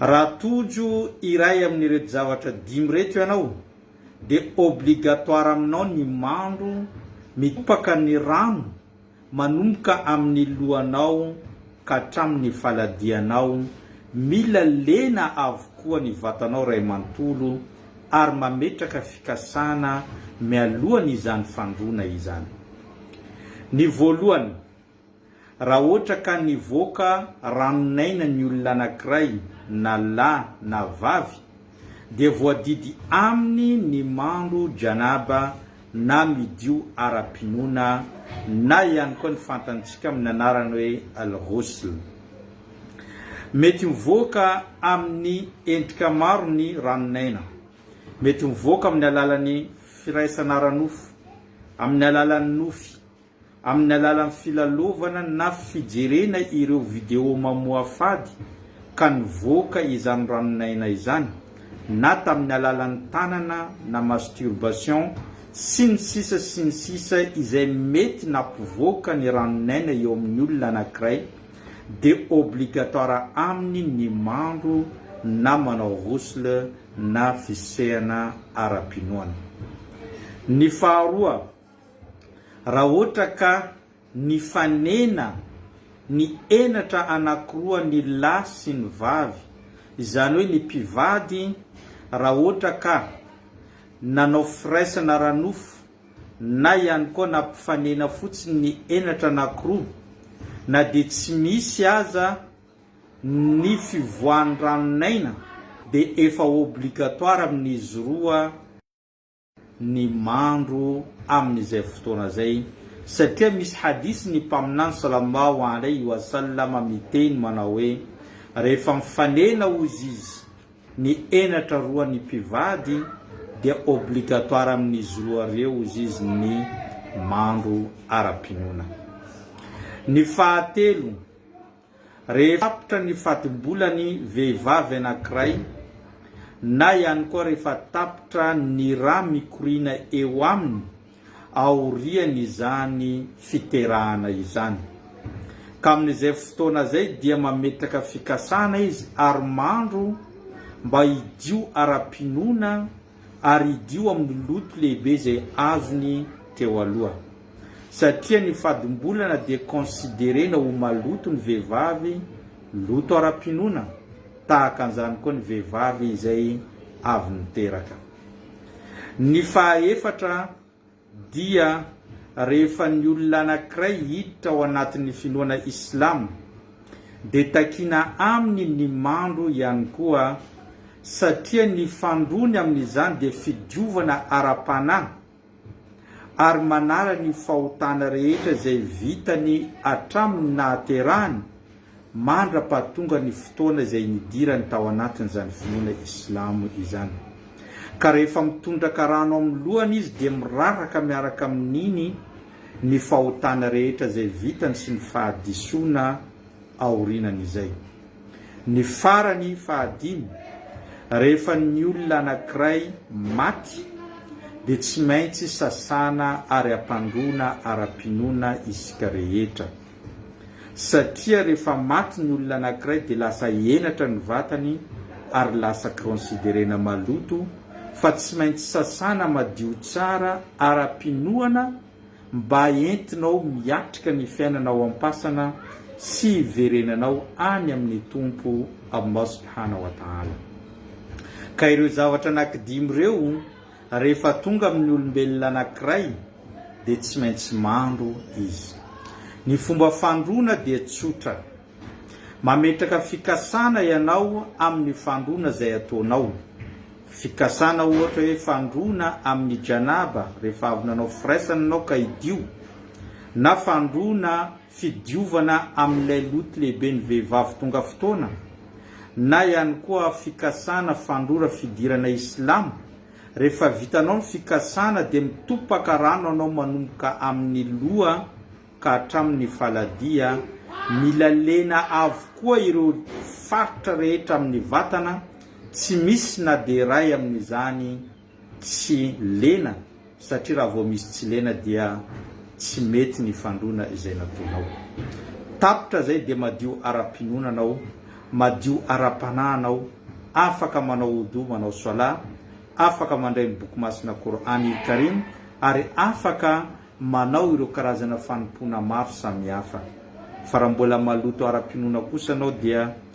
Raha tojo iray amin'ireto zavatra dimy ireto ianao, dia obligatoire aminao ny mandro mitobaka ny rano manomboka amin'ny lohanao ka hatramin'ny faladianao, mila lena avokoa ny vatanao iray manontolo ary mametraka fikasana mialohan'izany fandroana izany. Ny voalohany. Raha hoatra ka nivoaka ranon'aina ny olona anankiray na lahy na vavy dia voadidy aminy ny mandro janaba na midio ara-pinoana na ihany koa ny fantantsika amin'ny anarany hoe al-ghusl. Mety mivoaka amin'ny endrika maro ny ranon'aina. Mety mivoaka amin'ny alalan'ny firaisana ara-nofo, amin'ny alalan'ny nofy. Amin'ny alalan'ny filalovana na fijerena ireo video mamoafady ka nivoaka izany ranon'aina izany, na tamin'ny alalan'ny tanana na masturbation, sy ny sisa sy ny sisa izay mety nampivoaka ny ranon'aina eo amin'ny olona anankiray, dia obligatoire aminy ny mandro na manao ghusl na fisehana ara-pinoana. Ny faharoa. Raha ohatra ka nifanena ny henatra anakiroa ny lahy sy ny vavy, izany hoe ny mpivady raha ohatra ka nanao firaisana ara-nofo na ihany koa nampifanena fotsiny ny henatra anakiroa, na dia tsy misy aza ny fivoahan-dranon'aina dia efa obligatoire amin'izy roa, ny mandro amin'izay fotoana izay satria misy hadith ny Mpaminany salallahu alaihi wa sallam miteny manao hoe, Rehefa mifanena hozy izy ny henatra roa ny mpivady dia obligatoire amin'izy roa ireo hozy izy ny mandro ara-pinoana. Ny fahatelo. Rehefa tapitra ny fatim-bolan'ny vehivavy anankiray na ihany koa rehefa tapitra ny ra mikoriana eo aminy aorian'izany fiterahana izany. Ka amin'izay fotoana izay dia mametraka fikasana izy ary mandro mba hidio ara-pinoana, ary hidio amin'ny loto lehibe izay azony teo aloha. Satria ny fadim-bolana dia considerena ho maloto ny vehivavy, loto ara-pinoana tahaka an'izany koa ny vehivavy izay avy niteraka. Ny fahaefatra, Dia rehefa ny olona anankiray hiditra ao anatin'ny finoana islam dia takiana aminy ny mando ihany koa satria ny fandroany amin'izany dia fidiovana ara-panahy ary manala ny fahotana rehetra izay vitany hatramin'ny nahaterahany mandra-pahatonga ny fotoana izay nidirany tao anatin'izany finoana islamo izany. Ka rehefa mitondraka rano amin'ny lohany izy dia miraraka miaraka amin'iny ny fahotana rehetra izay vitany sy ny fahadisoana aorinan'izay. Ny farany, fahadimy, rehefa ny olona anankiray maty dia tsy maintsy sasana ary ampandroana ara-pinoana isika rehetra. satria rehefa maty ny olona anankiray dia lasa henatra ny vatany ary lasa considerena maloto fa tsy maintsy sasana madio tsara ara-pinoana mba entinao miatrika ny fiainana ao am-pasana sy hiverenanao any amin'ny Tompo Allah Subhanahu wa Ta'ala. Ka ireo zavatra anankidimy ireo Rehefa tonga amin'ny olombelona anankiray dia tsy maintsy mandro izy. Ny fomba fandroana dia tsotra. Mametraka fikasana ianao amin'ny fandroana izay ataonao. Fikasana ohatra hoe fandroana amin'ny Janaba rehefa avy nanao firaisana ianao ka hidio, na fandroana fidiovana amin'ilay loto lehiben'ny vehivavy tonga fotoana, na ihany koa fikasana fandrora fidirana islamo, rehefa vitanao ny fikasana dia mitopaka rano anao manomboka amin'ny loha ka hatramin'ny faladia, mila lena avokoa ireo faritra rehetra amin'ny vatana, tsy misy na dia iray amin'izany, tsy lena satria raha vao misy tsy lena dia tsy mety ny fandroana izay nataonao. Tapitra izay dia madio ara-pinoana anao, madio ara-panahy anao, afaka manao Wudu, manao Swala, afaka mandray ny Boky Masina Qur'an il Karim ary afaka manao ireo karazana fanompoana maro samihafa. Fa raha mbola maloto ara-pinoana kosa anao dia